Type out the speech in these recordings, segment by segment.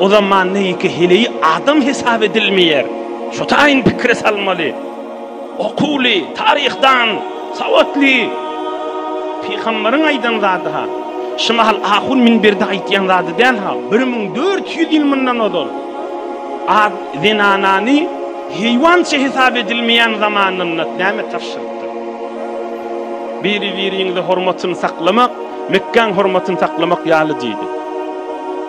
O zaman neýike heleýi adam hesap edilmeýär. Şu taýyn pikire salmaly. Okuwly, taryhdan sawatly pygamberiň aýdan zady-ha. Şu mahal ahun minberde aýtýan zady däl-ha. Bir müň dört ýüz ýyl mundan ozal ad, zenanany heýwança hesap edilmeýän zamanynda näme tabşyrypdyr? Biri-biriňize hormatyny saklamak, Mekgäň hormatyny saklamak ýaly diýdi.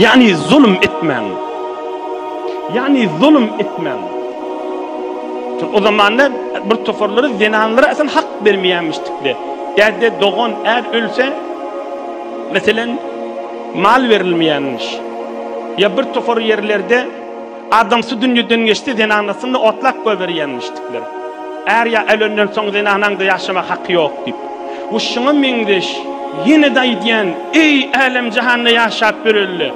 Ýagny zulum etmäň. Ýagny zulum etmäň. Çünki o zamanda bir toparlary zenanlara asyn hak bermeýämişdikler. Ýa-da dogan är ölse, meselem, mal berilmeýänmiş. Ýa bir topar ýerlerde Adam su dünýeden geçdi, zenanasyny otlap goýberýänmişdikler. Är ýa ölenden soň zenanaň-da ýaşamak haky ýok diýip. Bu şuňa meňzeş. Ýene-de aýdýan, eý, älem-jahanda ýaşap ýöreli,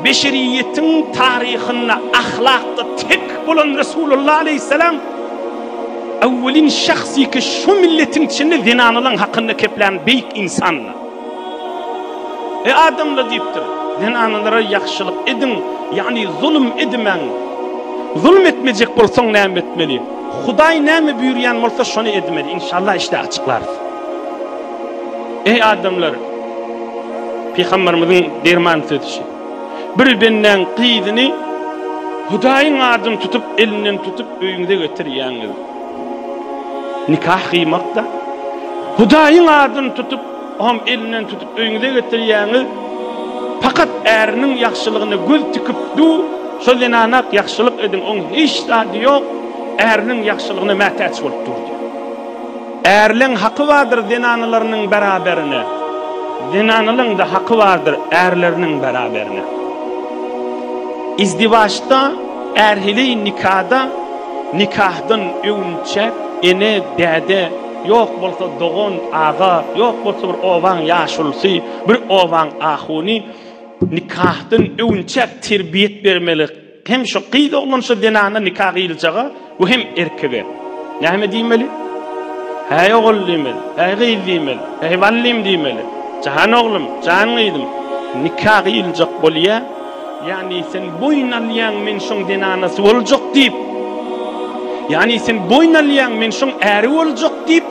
beşeriýetiň taryhynda ahlakda tek bolan Resulullah aleýhissalam owwelin şahs ýeke şu milletiň içinde zenanalaň hakynda keplän beýik ynsandy. Eý adamlar diýipdir, zenanalara ýagşylyk ediň, ýagny zulum edimäň. Zulum etmejek bolsaň näme etmeli? Hudaý näme buýurýan bolsa şony edmeli. Inşallah işde açyklarys. Eý adamlar! Pygamberimiziň derman sözüçi. Bir bendäň gyzyny Hudaýyň adyny tutup elinden tutup öýüňize getirýäňiz. Nikah gyýmak-da, Hudaýyň adyny tutup, oňam elinden tutup öýüňize getirýäňiz. Pakat äriniň ýagşylygyna göz tikip dur, şo zenana-ak ýagşylyk ediň, oň hiç zady ýok, äriniň ýagşylygyna mätäç bolup dur diýýär. Ärleň haky bardyr zenanalarynyň beraberine, zenanalaryň-da haky bardyr ärleriniň beraberine. Izdiwaçda, ärhili nikada, Nikahdan öwünçäk ene, däde, ýok bolsa dogan, aga, ýok bolsa bir obaň ýaşulusy, bir obaň ahuny nikahdan öwünçäk terbiýet bermeli. Hem şu gyz oglan şu zenana nika gyýyljaga we hem erkege. Näme diýmeli? Häý ogul diýmeli, häý gyz diýmeli, häý ballym diýmeli. Jan oglum, jan gyzym, nika gyýyljak bolýar. Ýagny sen boýun alýaň, men şoň zenanasy boljak diýip. Ýagny sen boýun alýaň, men şoň äri boljak diýip.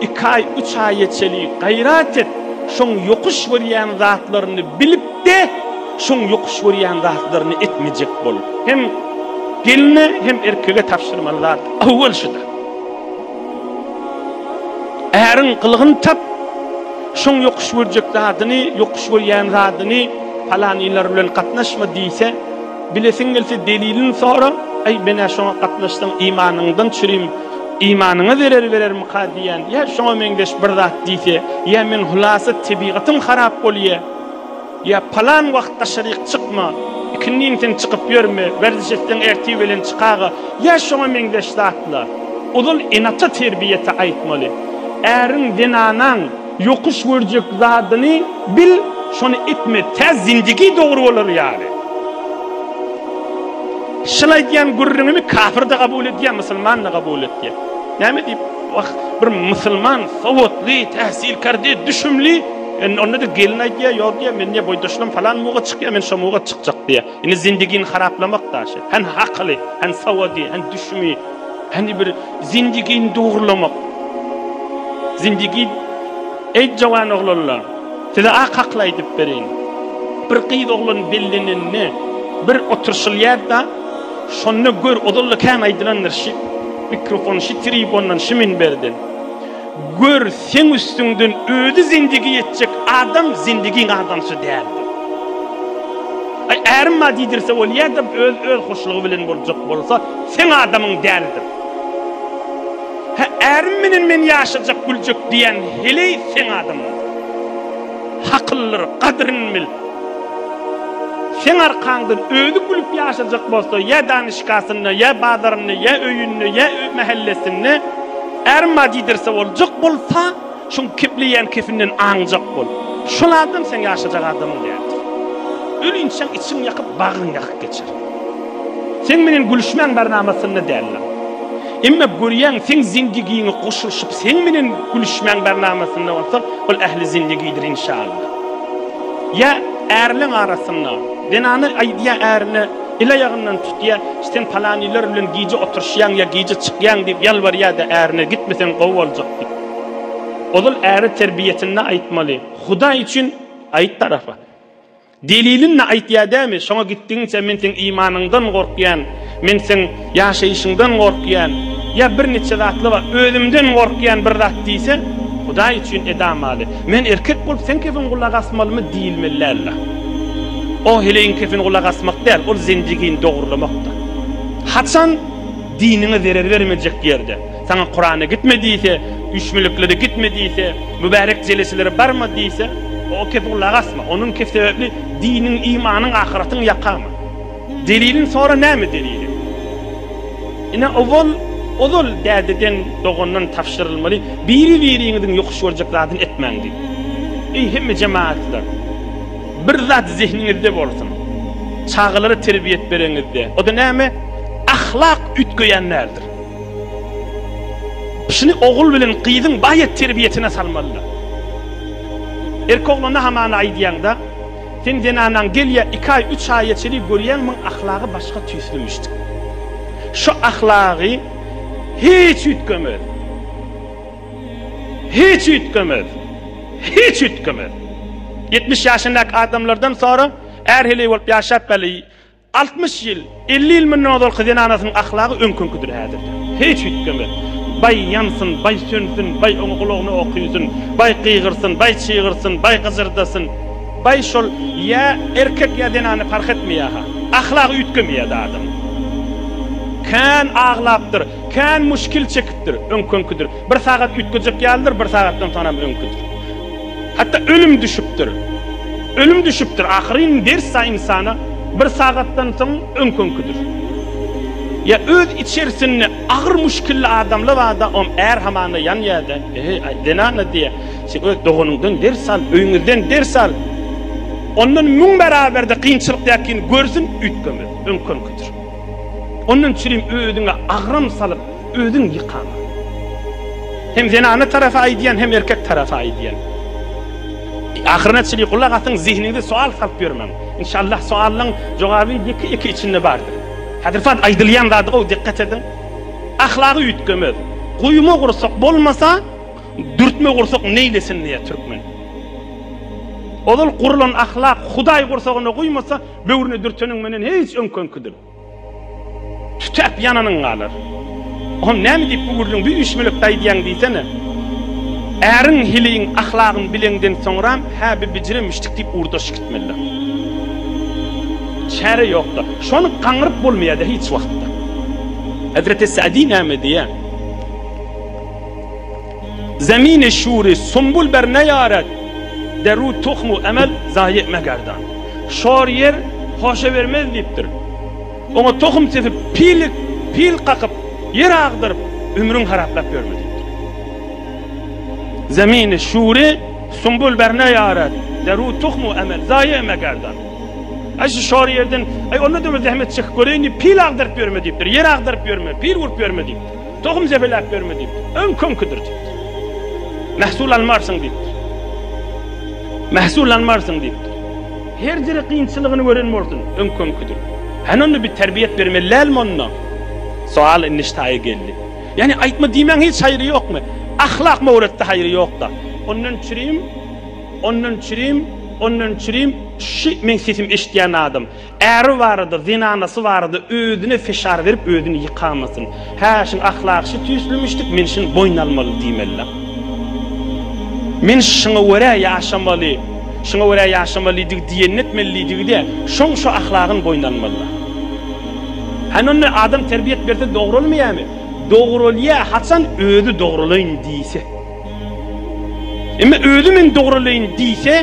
Iki aý, üç aýa çeli gaýrat et, şoň ýokuş görýän zatlaryny bilip-de, şoň ýokuş görýän zatlaryny etmejek bol. Hem gelne, hem erkege tabşyrmaly zat awwal şuda. Äriň gylygyny tap, şoň ýokuş görjek zadyny, ýokuş görýän zadyny, palan ýylar bilen gatnaşma diýse, bilesiň gelse delilini sora, Aý, men-ä şoňa gatnaşsam imanyňdan çürim, imanyňa zerer berermika diýýän, ýa şoňa meňzeş bir zat diýse, ýa men hulasa tebigatym harap bolýa, Ýa palan wagt daşaryk çykma, ikindiň sen çykyp ýörme, werziş etseň ertir belen çykaga, ýa şoňa meňzeş zatlar. Ozal ene-ata terbiýesi aýtmaly. Äriň, zenanaň ýokuş görjek zadyny bil, şony etme, tä zindigi dogry bolar ýaly. Şol aýdýan gürrüňimi kafir-de kabul edýär, musulman-da kabul edýär. Näme diýip, wah, bir musulman, sowatly, täsilkär, düşümli. Indi onda-da gelin aýdýar, ýok diýýär, men diýýär, boýdaşynam falan muga çykýar, men şo muga çykjak diýýär. Indi zindigini haraplamak daşy. Hany hakyly, hany sowady, hany düşümi, hany bir zindigini dogrulamak. Zindigi Eý jowan oglanlar, size ak akyl aýdyp bereýin. Bir gyz oglan bellenende bir oturşylýar-da, şonda gör, ozal-da kän aýdylandyr şu mikrofon, şu tribundan, şu minberden. Gör, seň üstüňden özi zindigi geçjek adam zindigiň adamsy däldir. Aý, ärim bar diýdirse bolýar-da, öz öz hoşlugy bilen boljak bolsa, seň adamyň däldir. Hä, ärim bilen men ýaşajak, güljek diýýän heleý seň adamyňdyr. Hakyllyr, gadyryny bil. Seň arkaňdan özi gülüp ýaşajak bolsa, ýa danyşkasynda, ýa bazarynda, ýa öýünde, ýa mähellesinde, Arma diýdirse boljak bolsa, şuň kepleýän kefinden aňjak bol. Şol adam seň ýaşajak adamyň däldir. Ölinçäň içiň ýakyp, bagryň ýakyk geçer. Seň menen gülüşmäň barnamasynda däldir. Emma görýäň, seň zindigiňe goşulyşyp, seň menen gülüşmäň barnamasynda bolsa, ol ähli zindigidir inşallah. Ýa ärleň arasynda, zenana aýdýar ärine, El aýagyndan tutýa, sen palanylar bilen gije oturyşýaň ýa gije çykýaň diýip ýalbarýada ärine gitmeseň gowy boljak diýip. Ozal äri terbiýesinde aýtmaly. Hudaý üçin aýt tarapa. Delilin ne aýtýa dämi, şoňa gitdigiňçe men seň imanyňdan gorkýan, men seň Ýaşaýşyňdan gorkýan ýa bir niçe zatly bar özümden gorkýan bir zat diýse Hudaý üçin edamady. Men erkek bolup sen kefin gulak asmalymy diýilmeli dälda. O heleýiň kefin gulak asmak däl ol zendigini dogurlamakda. Haçan diniňe zerer bermejek ýerde saňa Kurana gitme diýse, üýşmeliklere gitme diýse, mübärek jeleselere barma diýse o kefe gulak asma. Onuň kef sebäpli diniň, imanyň, ahyratyň ýakama. Deliliň sora näme deliliň. Ine owal ozal dädeden dogandan tabşyrylmaly biri biriňiziň ýokuş görjek zadyny etmäň diýip. Eý hemme jemaatlar bir zat zehniňizde bolsun çagalara terbiýet bereňizde oda näme ahlak üýtgeýän däldir. Şuny ogul bilen gyzyň baýat terbiýetine salmalylar. Erki oglana hamana aýdýaňda Seň zenanaň gelýä iki aý üç aýa çelik görýäň muň ahlagy başga tüýslimişdik. Şu ahlagy hiç üýtgemez. Hiç üýtgemez. Hiç üýtgemez. Ýetmiş ýaşyndaky adamlardan sora är heleý bolup ýaşap belli. Altmyş ýyl, elli ýyl mundan ozalky zenanasynyň ahlagy öňküňkidir häzirde. Hiç üýtgeme. Baý ýansyn, baý sönsün, baý oňa gulagyna ok üýsün, baý gygyrsyn, baý çygyrsyn, baý gyjyrdasyn. Baý şol ýa erkek ýa zenana parh etmeýärha. Ahlagy üýtgemeýär zadyň. Kän aglapdyr, kän muşkil çekipdir, öňküňkidir. Bir sagat üýtgejek ýalydyr, bir sagatdan soňam öňkidir. Hatda ölüm düşüpdir. Ölüm düşüpdir. Ahyryn wersiýa ynsana bir sagatdan soň öňkünkidir. Ýa öz içerisinde agyr muşkilli adamlar barda om är hamana ýanýada. Eý aý zenana diýýä. Sen öz doganyňdan ders al, öýňizden ders al. Ondan müň baraberde kynçylyk ýakyn görsün üýtgemez. Öňkünkidir. Ondan çürim özüňe agram salyp. Özüň ýykan. Hem zenana tarapy aýdýan hem erkek tarapy aýdýan. Ahyryna çyly gulak asyň zihniňize soal salyp ýörmäň. Inşallah soallaň jogaby ýeke ýeke içinde bardyr. Hazirfat aýdylýan zady gowy dikkat ediň. Ahlagy üýtgemez. Guýma gursak bolmasa dürtme gursak neýlesin diýýär türkmen. Ozal gurulan ahlak hudaý gursagyna guýmasa böwrüne dürteniň menden hiç öňkenkidir. Tütäp ýananyň galar. Oňa näme diýip bu gürrüň, bu üýşmelepi aýdýaň diýsene. Äriň hiliň, ahlagyň bileňden soňram, hä bi bijire müşdik diýip urdaş gitmelidir. Çäre ýokda. Şony gaňryp bolmaýada hiç wagtda. Hezreti Sa'di näme diýýä? Zemini şuri, sumbul ber neýaret, Deru tuhmu emel, zaýy etme gerdan. Şor ýer hoşa bermez diýipdir. Oňa tohum sepip, pilik, pil kakyp, ýer agdaryp, ömrüň haraplap ýörme diýipdir. Zemini şuri, sumbul ber neýaret, Deru tuhmu emel, zaýy etme gerdan. Aý şu şor ýerden, aý onda-da bir zähmet çekip göreýin diýip, pil agdaryp ýörme diýipdir. Ýer agdaryp ýörme, pil urup ýörme diýipdir. Tohum zepeläp ýörme diýipdir. Öňki öňküdir diýipdir. Mähsul almarsyň diýipdir. Mähsul almarsyň diýipdir. Her diri kynçylygyny gören bolsun, öňki öňküdir. Hany onda bir terbiýet bermeli dälmi onda? Soal indi ştaýy geldi. Ýani aýtma diýmäň hiç haýry ýokmy? Ahlak mowretde haýry ýokda. Ondan çürim, ondan çürim, ondan çürim, şi meň sesimi eşitýän adam. Äri barada, zenanasy barada özüne fişar berip özüni ýykamasyn. Hä, şin ahlak şi tüýslemişdik, men şin boýun almaly diýmelidä. Men şiňa görä ýaşamaly, şiňa görä ýaşamalydygy diýenini etmelidigi-de, şoň şo ahlagyn boýun almalydä. Hany onda adam terbiýet berse dogralmaýamy? Dogralýa, haçan özi dogralaýyn diýse. Emma özi men dogralaýyn diýse,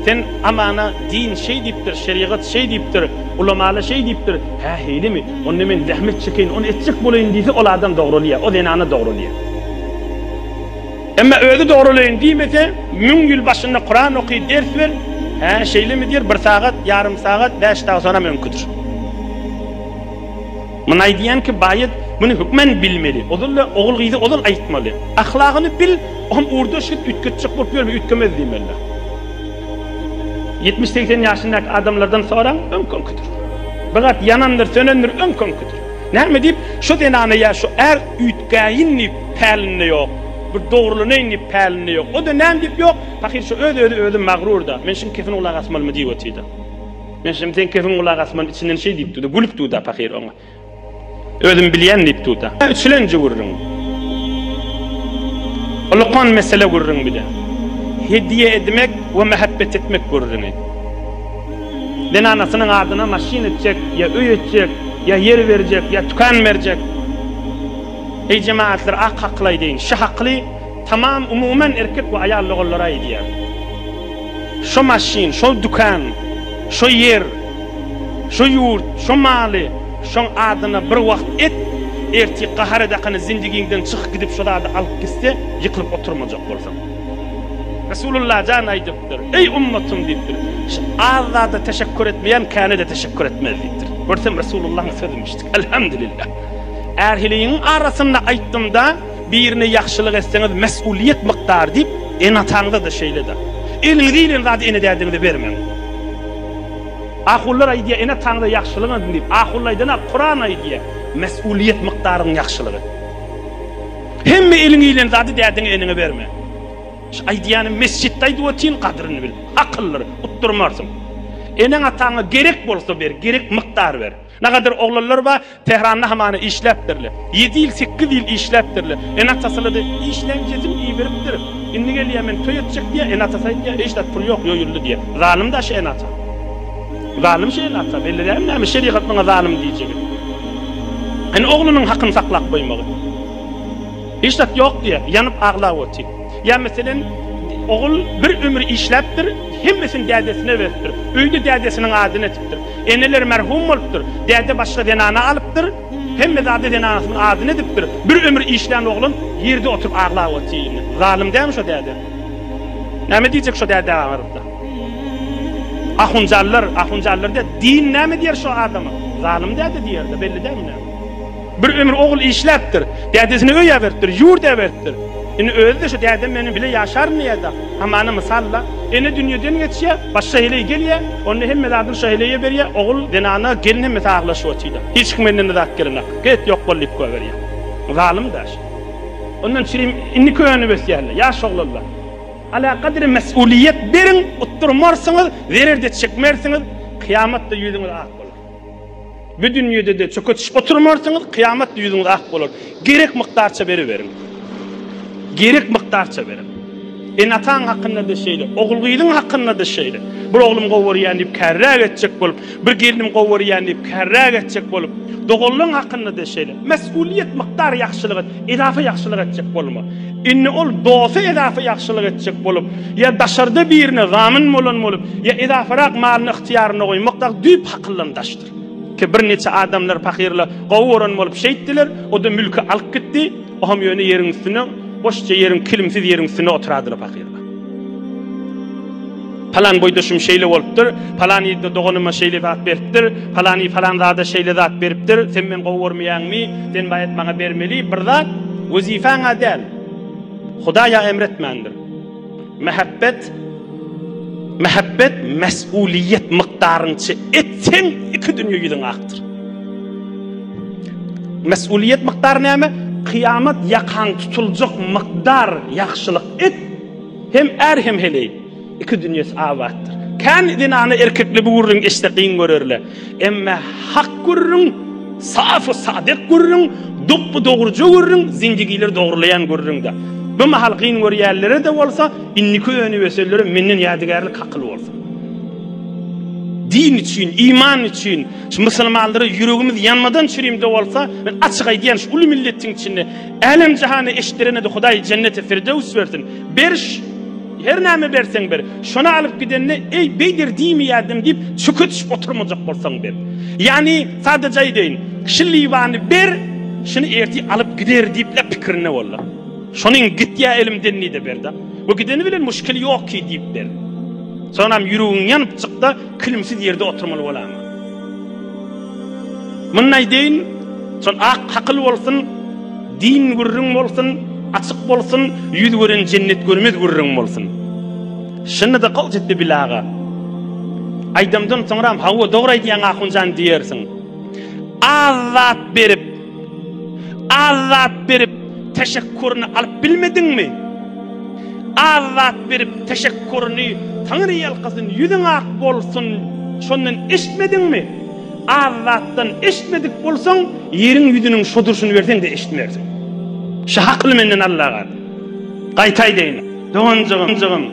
sen amana din şeý diýipdir, şerigat şeý diýipdir, ulamalar şeý diýipdir, hä heýlemi, onda men zähmet çekeýin, ony etjek bolaýyn diýse, ol adam dogralaýar, o zenana dogralaýar. Emma özi dogralaýyn diýmese, müň ýyl başynda Kuran oky, ders ber, hä şeýlemi diýer, bir sagat, ýarym sagat, bäş dag sonam öňküdir. Muny aýdýan kim baýat muny hökmen bilmeli. Ozal-da ogul gyza ozal aýtmaly. Ahlagyny bil, oňa ugurdaş git, üýtgetjek bolup ýörme, üýtgemez diýen bella. Ýetmiş segsen ýaşyndaky adamlardan soraň, öňki-öňkidir. Bir zat ýanandyr, sönendir, öňki-öňkidir. Näme diýip, şu zenana ýa şu är üýtgäýin diýip pälinde ýok, bir dogrulanaýyn diýip pälinde ýok. O-da näme diýip ýok, pahyr şu öz-özi özi magrur-da, men şuň kepine gulak asmalymy diýip otyr-da. Men şem seň kefiň gulak asman içinden şeý diýip durdy. Gülüp durdy pahyr oňa. Özüm bilýän diýip durdy. Üçlenji gürrüň. Ulkan mesele gürrüň bile. Hediýe edmek we mähebbet etmek gürrüňi. Men anasynyň adyna maşyn etjek, ýa öý etjek, ýa ýer berjek, ýa tükan berjek. Eý jemagatlar ak hakly aýdaýyn, şy hakly, Tamam umuman erkek we aýal logallary aýdýar. Şo maşyn, şol dükan, şo ýer, şo ýurt, şo maly şoň adyna bir wagt et, ertir gahar edakany zindigiňden çyk gidip şo zady alyp gitse ýykylyp oturmajak bolsaň. Resulullah jan aýdypdyr, Eý ummatym diýipdir, şu az zada teşekkur etmeýän käne-de teşekkur etmez diýipdir. Görsem Resulullahyň sözümişdik. Elhamdülillah. Ärhiligiň arasynda aýtdymda. Birine ýagşylyk etseňiz mesulyýet mukdary diýip ene ataňyzada şeýledir. Eliňize gelen zady ene dädiňize bermäň. Ahullar aýdýar ene ataňyza ýagşylyk ediň diýip ahulla aýdana Kuran aýdýar mesulyýet mukdaryň ýagşylyk et. Hemme eliňe gelen zady dädiňe eneňe berme. Şu aýdýanym mesjitde aýdyp otyryn gadyryny bil. Akyllyr utdurmarsyň. Eneň ataňa gerek bolsa ber gerek mukdary ber. Nagadyr oglanlar bar, Tehranda hamana işläpdirler. Ýedi ýyl, sekiz ýyl işläpdirler. Ene-atasylady. Işlän jezim iýiberipdir. Indi gelýär, men toý etjek diýýär. Ene-atasy aýdýar, Eý, şat pul ýok, ýoýuldy diýýär. Zalym-da şu ene-ata. Zalym şu ene-ata. Belli dälmi näme şerigat muňa zalym diýjegi. Indi oglunyň hakyny saklap goýmagy. Hiç zat ýok diýýär. Ýanyp aglap otyr. Ýa meselen, ogul bir ömür işläpdir, hemmesini dädesine beripdir. Öýde dädesiniň adyny etipdir. Eneler merhum bolupdyr. Däde başga zenana alypdyr. Hemme zady zenanasynyň adyna edipdir. Bir ömür işlän oglan ýerde oturyp aglap otyr. Zalym dälmi şo däde? Näme diýjek şo dädä baryp-da? Ahunjanlar, ahunjanlar diýer. Din näme diýer şo adama? Zalym däde diýer-de, belli dälmi näme? Bir ömür ogul işläpdir. Dädesini öý äberipdir, ýurt äberipdir. Indi özi-de şu dädem meniň bile ýaşaryn diýýä-de, hamana mysal-la. Ene dünýeden geçýär, başga heleý gelýär, onda hemme zadyny şo heleýe berýär, ogul, zenana, gelin hemmesi aglaşyp otyr-da. Hiç kim menden-de zat gelenok. Get, ýok bol diýip goýberýär. Zalym daş. Ondan çirim, indi könüp ösýärler, ýaş oglanlar. Alakadar mes'ulyýet beriň, utdurmarsyňyz, zerer-de çekmersiňiz, kyýamat-da ýüzüňiz ak bolar. Bu dünýede-de çöketişip oturmarsyňyz, kyýamatda ýüzüňiz ak bolar. Gerek mukdarça beriberiň. Gerek mukdarça beriň. Ene-ataň hakynda-da şeýle, ogul-gyzyň hakynda-da şeýle. Bir oglum gowy görýän diýip kärräk etjek bolup, bir gelnim gowy görýän diýip kärräk etjek bolup, doganlaň hakynda-da şeýle. Mesgulyýet mukdar ýagşylyk et. Edafa ýagşylyk etjek bolma. Indi ol dosta edafa ýagşylyk etjek bolup, ýa daşarda birine zamin bolan bolup, ýa edafarak malyny ygtyýaryna goýmak dagy düýp hakyldan daşdyr. Ki bir niçe adamlar pahyryla gowy gören bolup şeýtdiler, o-da mülki alyp gitdi, o-ham ýöne ýeriň üstüne, boşja ýeriň, kilimsiz ýeriň üstüne oturadyla pahyr. Palan boýdaşym şeýle bolupdyr, palan ýerde doganyma şeýle zat beripdir, palany palan zada şeýle zat beripdir, sen meni gowy görmeýäňmi, sen baýat maňa bermeli bir zat, wezipä-ňa däl, Hudaý-a emretmändir. Mähebbet, mähebbet mäsuliýet mykdaryňça et, seň iki dünýe ýüzüň akdyr. Mäsuliýet mykdary näme? Kyýamat ýakaň tutuljak mykdar ýagşylyk. It hem är hem heleý, iki dünýesi abatdyr. Kän zenana erkekler bu gürrüňi eşitse kyn görerler. Emme hak gürrüň, safy sadyk gürrüň, dopby dogruja gürrüň, zendigileri dogrulaýan gürrüňdir. Bu mahal kyn görýänlere-de bolsa, indiki öni-ösenlere menden ýadygärlik hakyl bolsun. Din üçin, iman üçin, şu musulmanlara ýüregimiz ýanmadan çürimde bolsa, men açyk aýdýan, şu uly milletiň içinde, Älem jahany eşitdirenedi Hudaý jenneti firdöws bersin. Beriş Her näme berseň ber. Şony alyp gidende eý beýder diýmeýärdim diýip çük etişip oturmajak bolsaň ber. Ýagny sadaja aýdaýyn. Şi liwany ber, şuny ertir alyp gider diýip-le pikirinde bollar. Şonyň gitýä elimden diýde berda. Bu gideni bilen muşkil ýok ki diýip ber. Soňam ýüregiň ýanypjykda kilimsiz ýerde oturmaly bolama. Muny aýdaýyn, şol ak hakyl bolsun, din gürrüň bolsun, açyk bolsun, ýüz gören jennet görmez gürrüň bolsun. Şunda-da gowy çytdy bilaga. Aýdymdan soňram, Hawa, dogry aýdýaň Ahunjan diýersiň. Az zat berip, Az zat berip, teşekkuryny alyp bilmediňmi? Az zat berip, teşekkuryny Taňry ýalkasyn, ýüzüň ak bolsun, şondan eşitmediňmi? Az zatdan eşitmedik bolsaň, ýeriň ýüzüniň şo durşuny berseň-de eşitmersiň. Şu hakyly menden al-laga. Gaýta aýdaýyn, doganjygym,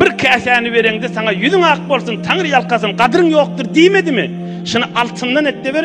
bir käsäni bereňde saňa ýüzüň ak bolsun, Taňry ýalkasyn, gadyryň ýokdur diýmedimi? Şuny altyndan et-de ber.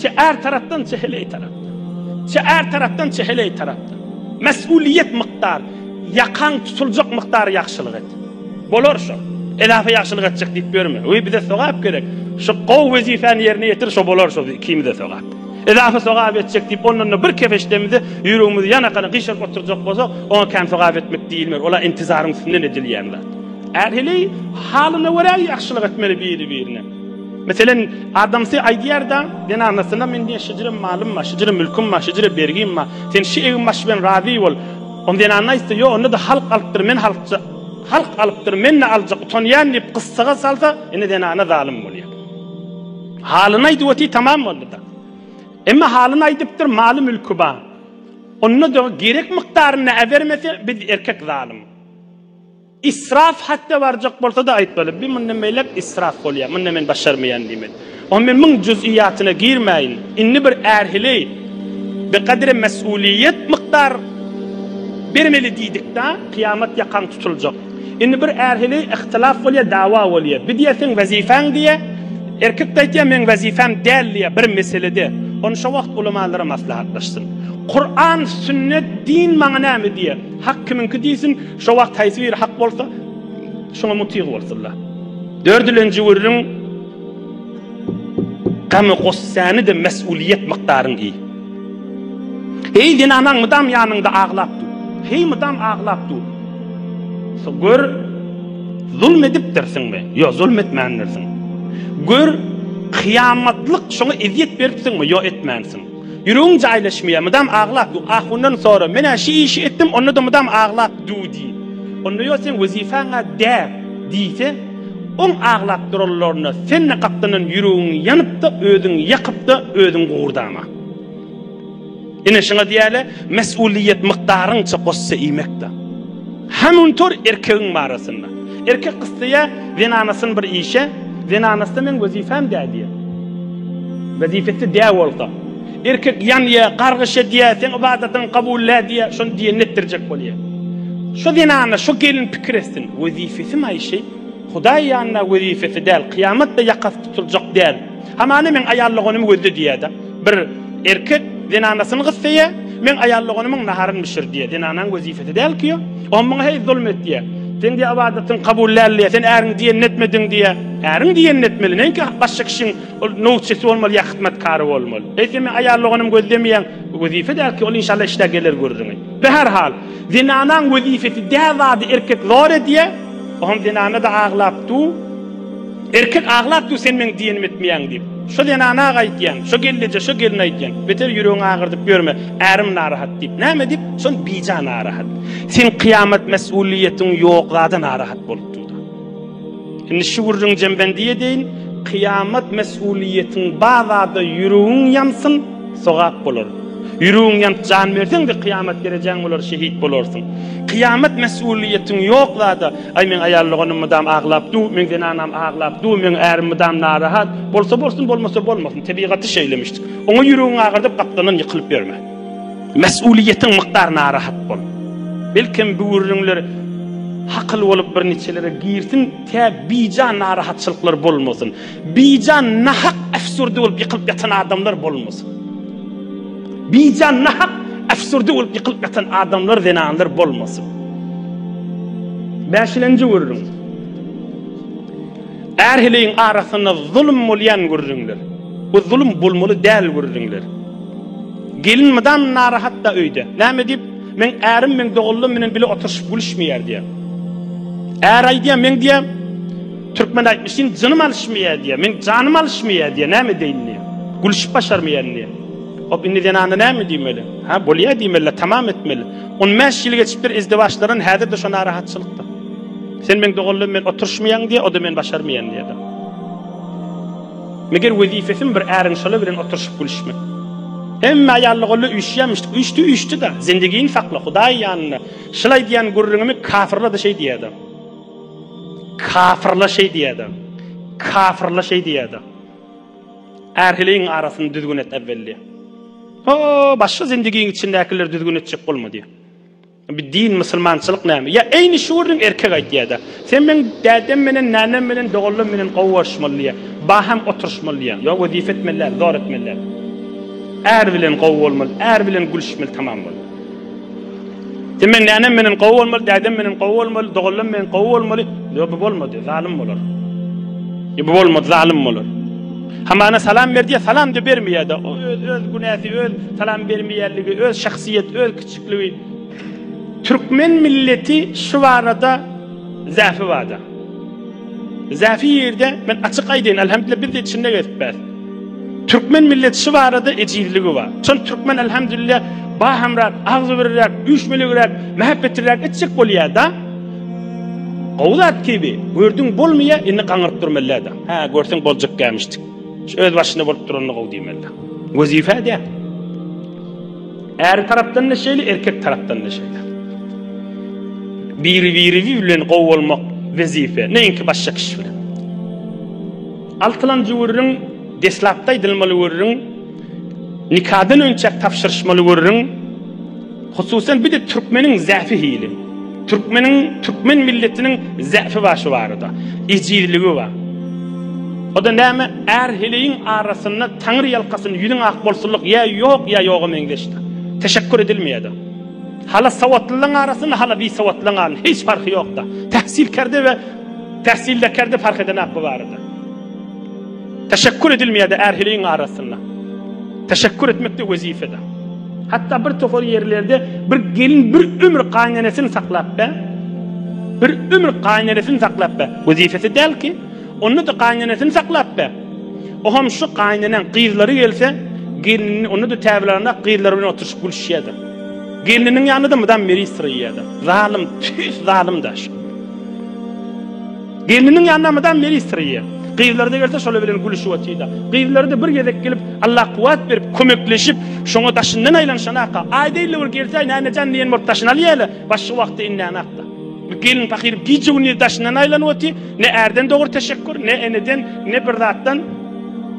Çe är tarapdan, çe heleý tarapdan. Çe är tarapdan, çe heleý tarapdan. Mes'uliýet mukdar, ýakaň tutuljak mukdar ýagşylyk et. Bolar şo. Eläfe ýagşylyk etjek diýip ýörme. Öý bize sogap gerek. Şo gowy wezipani ýerine ýetir, şo bolar şo ikimize sogap. Eläfe sogap etjek diýip ondan-da bir kefeşdemizi ýüregimizi ýanakana gyşaryp oturjak bolsak, oňa kän sogap etmek diýilmer. Ol-a intizaryň üstünden edilýän zat. Är heleý halyna görä ýagşylyk etmeli biri-birine. Meselem, adamsy aýdýar-da, zenanasyna men diýen şijire malym bar, şijire mülküm bar, şijire bergim bar. Sen şi egin-baş bilen razy bol. Onda zenana aýtsa, ýok, onda-da halk alypdyr, men halkja, halk alypdyr, men-de aljak, utanýan diýip, gyssaga salsa, ine zenana zalym bolýar. Halyny aýdyp otyr, tamam boldy-da. Emma halyny aýdypdyr, maly-mülki bar. Onda-da gerek mukdarynda äbermese, biz erkek zalym. Israf hatda barjak bolsa-da aýtmaly, bi mundan beýläk israf bolýar, munda men başarmaýan diýmeli. Oň men muň juz'iýatyna girmäýin. Indi bir ärhili bir gadre mes'uliýet mukdar bermeli diýdik-dä, kyýamat ýakaň tutuljak. Indi bir ärhili ihtilaf bolýar, dawa bolýar. Bir diýýär seň wezifäň diýýär, erkek-de aýtýar meň wezifäm däl diýýär bir meselede. Ony şo wagt ulamalara maslahatlaşsyn. Kur'an, sünnet, din maňa näme diýýär? Hak kimiňki diýsin. Şo wagt haýsy biri hak bolsa, şoňa mutyg bolsunlar. Dördilenji gürrüň, Gamy-gussäni-de mesulyýet mukdaryň iý. Heý, zenanaň mydam ýanyňda aglap dur. Heý, mydam aglap dur. Gör, zulm edipdirsiňmi? Ýok, zulm etmändirsiň. Gör, kyýamatlyk şoňa ezýet beripsiňmi? Ýok, etmänsiň. Ýüregiň jaýlaşmaýar, mydam aglap dur. Ahundan sora, men-ä şü işi etdim, onda-da mydam aglap dur diý. Onda ýol seň wezipäň-ä däl diýse, oň aglap duranlaryna sen-de gapdandan ýüregiňi ýanyp-da, özüňi ýakyp-da, özüň gugurdama. Ine, şuňa diýäýle, mes'uliýet mukdaryňça gossa iýmek-dä. Hamuntor erkegiň barasynda. Erkek gyssaýa zenanasyny bir işe, zenanasy-da meň wezipem dä diýýär. Wezipesi dä bolsa. Erkek ýanýar, gargyş edýär, seň ybadatyň kabul dä diýýär, şony diýenini etdirjek bolýar. Şo zenana, şo gelin pikir etsin, wezipesi maýşy, Hudaý ýanynda wezipesi däl, kyýamatda ýakasy tutuljak däl. Hamana meň aýallyganymy gözle diýýär-de. Bir erkek zenanasyny gyssaýar, Meň aýal doganymyň naharyn bişir diýär. Zenanaň wezipesi däl ki o. O muňa heý zulum et diýär. Sen diýär ybadatyň kabul däl diýär. Sen äriň diýenini etmediň diýär. Äriň diýenini etmeli. Näinki başga kişiň ol nowçysy bolmaly ýa hyzmatkary bolmaly. Heý sen meň aýal doganym gözlemeýäň. Wezipe däl ki ol inşallah işdä geler görüriňi. Bi her hal. Zenanaň wezipesi däl zady erkek zor edýär. Oňam zenana-da aglap du. Erkek aglap dur sen meň diýenimi etmeýäň diýip. Şo zenana gaýtýaň, şo gelneje, şo gelne aýtýaň. Beter ýüregiňi agyrdyp ýörme. Ärim narahat diýip. Näme diýip? Şol bija narahat. Seň kyýamat mesulyýetiň ýok zada narahat bolup dur-da. Indi şu gürrüňi jembendi edeýin, kyýamat mesulyýetiň bar zada ýüregiň ýansyn, sogap bolar. Ýüregiň ýanyp jan berseň-de kyýamat derejäň bolar, şehit bolarsyň. Kyýamat mesulyýetiň ýok zada. Aý meň aýal doganym mydam aglap dur, meň zenanam aglap dur, meň ärim mydam narahat, bolsa bolsun bolmasa bolmasyn, tebigaty şeýlemişdir. Oňa ýüregiň agyrdyp gapdalyndan ýykylyp ýörme. Mesulyýetiň mukdar narahat bol. Belkem böwürliňler hakyl bolup birniçelere girsin tä bijan narahatçylyklar bolmasyn. Bijan nahak äfsürdi bolup ýykylyp ýatan adamlar bolmasyn. Bijan nahak äfsürdi bolup ýykylyp ýatan adamlar, zenanlar bolmasyn. Bäşilenji gürrüň. Ärhiliň arasynda zulum bolýan gürrüňler. Bu zulum bolmaly däl gürrüňler. Gelin mydam narahatda öýde. Näme diýip, men ärim men doganlarym bilen bile oturyşyp gülüşmeýär diýýär. Är aýdýar, men diýýär, Türkmen aýtmyş seň jynym alyşmaýar diýýär. Meň janym alyşmaýar diýýär. Näme edeýin diýýär. Gülüşip başarmaýaryn diýýär. Hop indi zenana näme diýmeli? Hä bolýar diýmeli-le tamam etmeli. On bäş ýyl geçipdir izdiwaçlardan häzir-de şo narahatçylykda. Sen meň doganlygym bilen oturyşmaýaň diýýär, o-da men başarmaýaryn diýýär-de. Meger wezipesimi bir äriň şolar bilen oturyşyp gülüşmek. Hemme aýal doganlar üýşýärmişdik. Üýşdi üýşdi-de. Zindigini sakla, Hudaýy ýanynda. Şylaý diýýän gürrüňimi kafyrlar-da şeý diýýär-de. Kafyrla şeý diýäda. Kafyrla şeý diýäda. Ärhiliň arasyny düzgün et äwwel diýä. O, başga zindigiň içindäkileri düzgün etjek bolma diýä. Bir din musulmançylyk näme? Ýa eýni şu gördüň erkek aýt diýäda. Sen meň dädem menen, nänem menen, doganlarym menen gowy görüşmeli diýä. Baham oturyşmaly diýä. Ýa wezipe etmeli däl, zor etmeli däl. Är bilen gowy bolmaly, är bilen gülüşmeli tamam bol. Sen men nänem menden gowy bolmaly, dädem menden gowy bolmaly, doganlam menden gowy bolmaly. Ýok, bu bolmady, zalym bolar. Ýok, bu bolmady, zalym bolar. Hamana salam berdi, salam da bermeýärdi. O öz öz günäsi, öz salam bermeýärligi, öz şahsyýet, öz kiçikligi. Türkmen milleti şu barada zähfi barda. Zähirde men açyk aýdaýyn Alhamdulillah biz içinde gezipbäs. Türkmen milleti şu barada ejizligi bar. Şol türkmen alhamdulillah bahamrak, agzybirrak, üýşmeligrak, mähepbetirrak etjek bolýar-da. Gowy zat gibi, gördüň bolmaýar, indi gaňyryp durmalyda. Ha, görseň boljak gämişdik. Öz başyna bolup duranda gowy diýmeli. Wezipe diýä. Äri tarapdan da şeýle, erkek tarapdan da şeýle. Biri biri bilen gowy bolmak wezipe, näinki başga kişi bilen. Altylanjy gürrüň deslapda aýdylmaly gürrüň, nikadan önçäk tabşyryşmaly gürrüň. Hususan bir de türkmeniň zäfi hili. Türkmeniň türkmen milletiniň zäfi bar şu barada. Ejizligi bar. O da näme? Är heleýiň arasynda Taňry ýalkasyn ýüzüň ak bolsunlyk ýa ýok ýa ýoga meňzeşdir. Teşekkur edilmeýädir. Hala sowatlylaň arasynda hala bisowatlylaň arasynda hiç parhy ýokda. Tähsilkerde we tähsildekarde parh edenak bu barada. Teşekkür edilmeýärdi ärhiliň arasynda. Teşekkür etmekde wezipede. Hatta bir topar ýerlerde bir gelin bir ömür gaýnenesini saklap be. Bir ömür gaýnenesini saklap be. Wezipesi däl ki, onda da gaýnenesini saklap be. O hem şu gaýnenen gyzlary gelse, gelini onda da täbirlerinde gyzlar bilen oturyşyp gülüşýärdi. Geliniň ýanynda da mydam meri syryýardy. Zalym, tüýs zalym daş. Gelniniň ýanyna mydam ministr iýýär. Gyzlary-da gelse şolar bilen gülüşip otyr-da. Gyzlary-da bir gezek gelip, Allah kuwwat berip, kömekleşip, şoňa daşyndan aýlanyşanak-a, aýda ille bir gelse-aý Mämmejan diýen bolup daşyny alýar-la, başga wagtda inlänak-da. Bu gelin pahyr gije-gündiz daşyndan aýlanyp otyr, ne ärden dogry teşekgür, ne eneden, ne bir zatdan.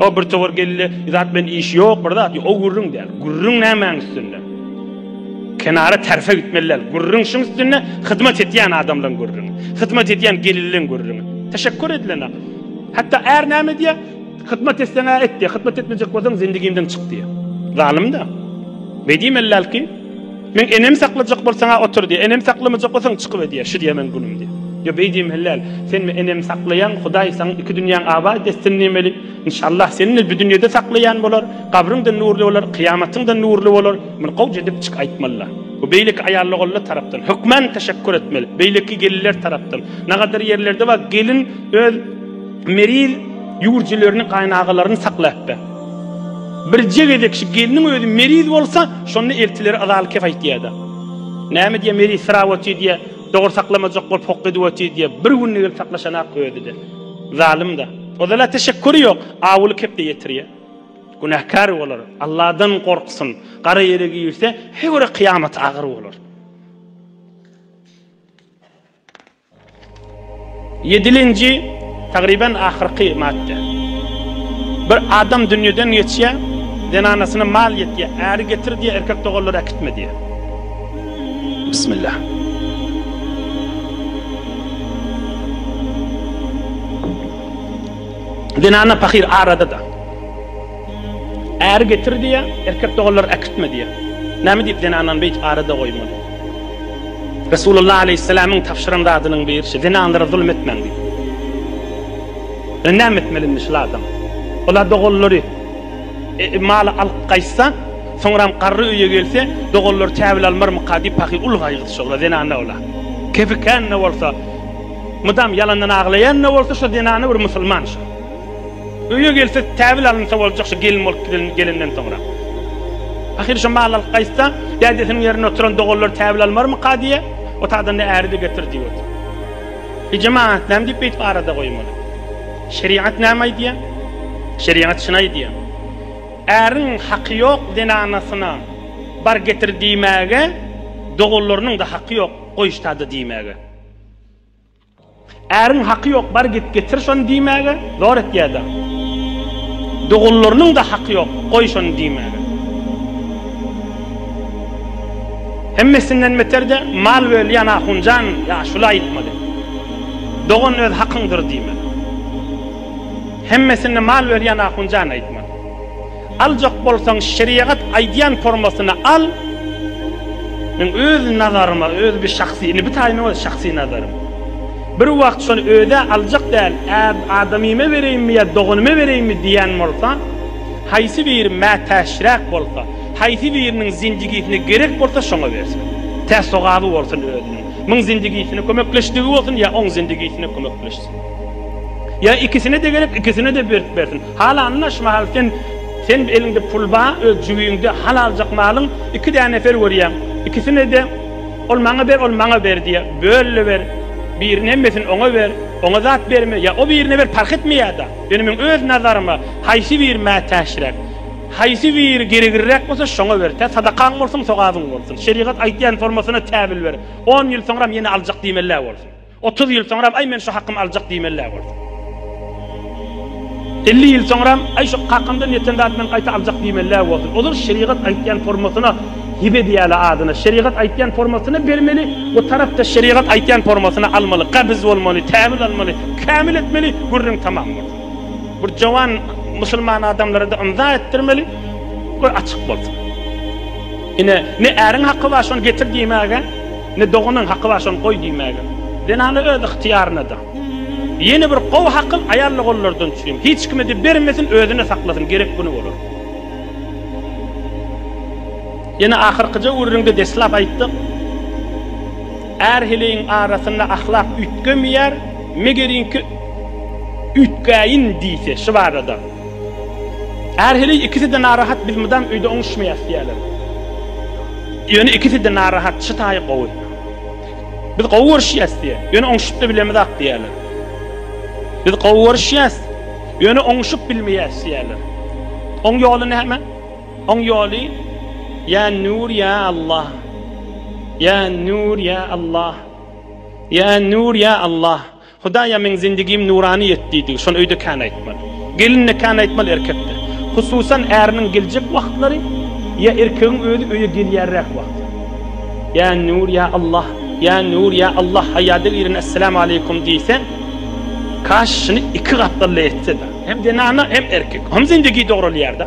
O bir towar geldi, zat bilen işi ýok, bir zat ýok. O gürrüň däl. Gürrüň nämäň üstünde? Kenara terfe gitmeli däl. Gürrüň şuň üstünde, hyzmat etýän adamlaryň gürrüňi. Hyzmat edýän gelinleň gürrüňi. Teşekkur edilende. Hatda är näme edýär? Hyzmat etseň-ä et diýýär. Hyzmat etmejek bolsaň zendigimden çyk diýýär. Zalym-da. Beýdimeli däl ki. Meň enem saklajak bolsaň-a otur diýýär. Enem saklamajak bolsaň çykyp edýär. Şu diýýär meň günüm diýýär. Ýa beý diýmeli däl. Senmi enem saklaýaň, Hudaý saň iki dünýäň abat etsin diýmeli. Inşallah seni-de bu dünýede saklaýan bolar. Gabryň-da nurly bolar, kyýamatyň-da nurly bolar. Muny gowja edip çyk aýtmaly-la. Bu beýleki aýallogulla tarapdan. Hökman teşekgür etmeli. Beýleki gelinler tarapdan. Nagadyr ýerlerde bar gelin öz. Meril ýüwürjilerini gaýynagalaryny saklapdy. Birje gezek şu gelniň özi meriz bolsa, şonda eltileri yzaly kef aýtýardy. Näme diýýä, meriz syrap otyr diýýä, dogry saklamajak bolup hok edip otyr diýýä, bir günde gelip saklaşanak özi-de. Zalym-da. Ozal-a teşekküri ýok, awuly kepde ýetirýä. Günäkär bolar, Alladan gorksyn, gara ýere girse, heýwere kyýamaty agyr bolar. Ýedilinji, tagryban ahyrky madda. Bir adam dünýeden geçýär, zenanasyna mal ýetýär, äri getir diýýär, erkek doganlary äkitme diýýär. Bismillah. Zenana pahyr arada-da. Äri getir diýýär, erkek doganlar äkitme diýýär. Näme diýip zenanlary beýdip arada goýmaly? Resulullah aleýhissalamyň tabşyran zadynyň birisi, zenanlara zulum etmäň diýip. Ýöne näme etmeli indi şul adam? Ola doganlary e, e, maly alyp gaýtsa, soňram garry öýe gelse, doganlary täwil almarmyka diýip pahyr uly gaýgysy şola zenana ola. Kefikänine bolsa, mydam ýalandan aglaýanine bolsa şo zenana bir musulman şo. Öýe gelse täbil alynsa boljak şu gelin bolup giden gelenden soňra. Ahyry şu mal alyp gaýtsa, dädesiniň ýerinde oturan doganlar täbil almarmyka diýýä. Otagdan-da äri-de getir diýip otur. E jemagat näme diýip beýtip arada goýmaly? Şerigat näme aýdýa? Şerigat şuny aýdýa. Äriň haky ýok zenanasyna bar getir diýmäge, doganlarynyň-da haky ýok goýuşda-da diýmäge. Äriň haky ýok, bar git getir şony diýmäge zor etýärler. Doganlarynyň-da haky ýok, goý şony diýmäge. Hemmesinden beter-de, mal bölýän ahunjan ýaşula aýtmaly. Dogan öz hakyňdyr diýmeli. Hemmesini mal berýän ahunjan aýtmaly. Aljak bolsaň şeriagat aýdýan formasyny al, men öz nazaryma, öz bir şahsy, indi bu taýynyň özi şahsy nazarym. Bir wagt şony özä aljak däl, äb adamyma bereýinmi ýa doganyma bereýinmi diýýän bolsa, haýsy biri mätäçräk bolsa, haýsy biriniň zinjigisine gerek bolsa şoňa bersin. Tä sogaby bolsun özüniň. Muň zinjigisine kömekleşdigi bolsun ýa oň zinjigisine kömekleşsin. Ýa ikisine-de gerek, ikisine-de berip bersin. Halanyna şu mahal sen sen eliňde pul ba öz jübiňde hal aljak malyň iki dä nefer görýäň ikisine de ol maňa ber ol maňa ber diýä böl-le ber birin hemmesini oňa ber oňa zat berme ýa o birine ber parh etmeýäda ýöne meň öz nazaryma haýsy biri mätäçräk haýsy biri gerigirräk bolsa şoňa ber tä sadakaň bolsun sogabyň bolsun şerigat aýtýan formasyna täbil ber on ýyl soňram ýene aljak diýmeli-ä bolsun. Otuz ýyl soňram aý men şu hakymy aljak diýmelidä bolsa. Elli ýyl soňram aý şu kakymdan ýeten zat men gaýta aljak diýmelidä bolsa. Ozal şerigat aýtýan formasyna hibe diýäli adyna. Şerigat aýtýan formasyna bermeli we tarapda şerigat aýtýan formasyna almaly. Gabyz bolmaly, täwil almaly, kämil etmeli, gürrüň tamam bolsun. Bir jowan musulman adamlarada ymza etdirmeli we açyk bolsun. Ine, ne äriň haky bar şony getir diýmäge. Ne doganyň haky bar şony goý diýmäge. Zenany öz yhtyýarynada. Ýene bir gowy hakyl aýal doganlardan üçin. Hiç kime-de bermesin özüne saklasyn gerek güni bolar. Ýene ahyrkyja gürrüňde deslap aýtdyk. Är heleýiň arasynda ahlak üýtgemeýär, megeriňki üýtgäýin diýse şu barada. Är heleý ikisi-de narahat biz mydam öýde oňuşmaýas diýýärler. Ýöne ikisi-de narahat, şu taýy gowy. Biz gowy görüşýäs diýýär. Ýöne oňuşyp-da bilemizok diýýärler. Biz gowy görüşýäs, ýöne oňuşyp bilmeýäs diýýärler. Oň ýoly näme? Oň ýoly Ýa Nur ýa Allah. Ýa Nur ýa Allah. Ýa Nur ýa Allah. Hudaýa meň zindigim nurany et diýdigi şony öýde kän aýtmaly. Gelin-de kän aýtmaly, erkek-de. Hususan äriniň geljek wagtlary ýa erkegiň özi öýe gelýärräk wagty. Ýa Nur, ýa Allah, ýa Nur, ýa Allah haýada gireni Esselämu aleýkum diýseň, kaş şuny iki gatdally etse-de. Hem zenana hem erkek. Hem zindigi dogralýar-da.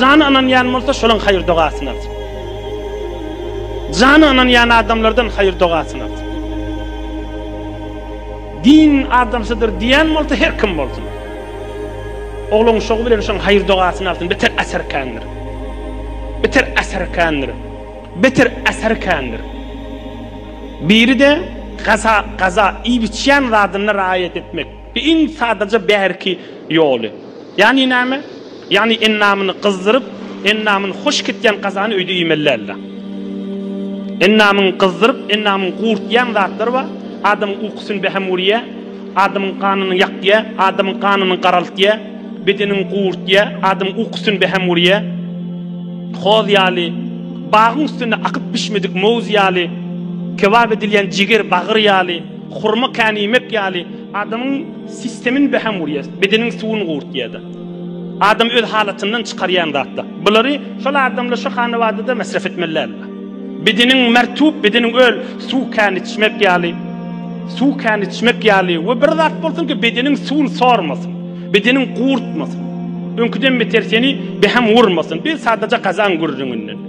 Jany ynanýan bolsa şolaň haýyr dogasyny alsyn. Jany ynanýan adamlardan haýyr dogasyny alsyn. Din adamsydyr diýen bolsa her kim bolsun. Ogluň şogy bilen şoň haýyr dogasyny alsyn. Beter äser kändir. Beter äser kändir. Beter äser kändir. Biri de gaza gaza iýip içýän zadyna raýat etmek. Bi iň sadaja bärki ýoly. Ýagny näme? Ýagny endamyny gyzdyryp, endamyny hoş gitýän gazany öýde iýmeli däldi. Endamyňy gyzdyryp, endamyňy gurtýan zatlar bar, adamyň ukusyny bähem urýar, adamyň ganyny ýakýar, adamyň ganyny garaltýar, bedeniňi gurtýar, adamyň ukusyny bähem urýar. Hoz ýaly, bagyň üstünde akyp bişmedik mowz ýaly, kebap edilýän jiger bagyr ýaly, hurma käniýmek ýaly, adamyň. Sistemin beham urýar, bedeniň suwuny gurtýar-da. Adam öz halatyndan çykarýan zatlar. Bulary şol adamlar şu hanabadada mesref etmelidirler. Bedeniň mertub, bedeniň öl, suw kän içmek ýaly, suw kän içmek ýaly we bir zat bolsun ki bedeniň suwuny sormasyn, bedeniň gurtmasyn. Öňküden beter seni beham urmasyn, bir sadaja gazan gürrüňinden.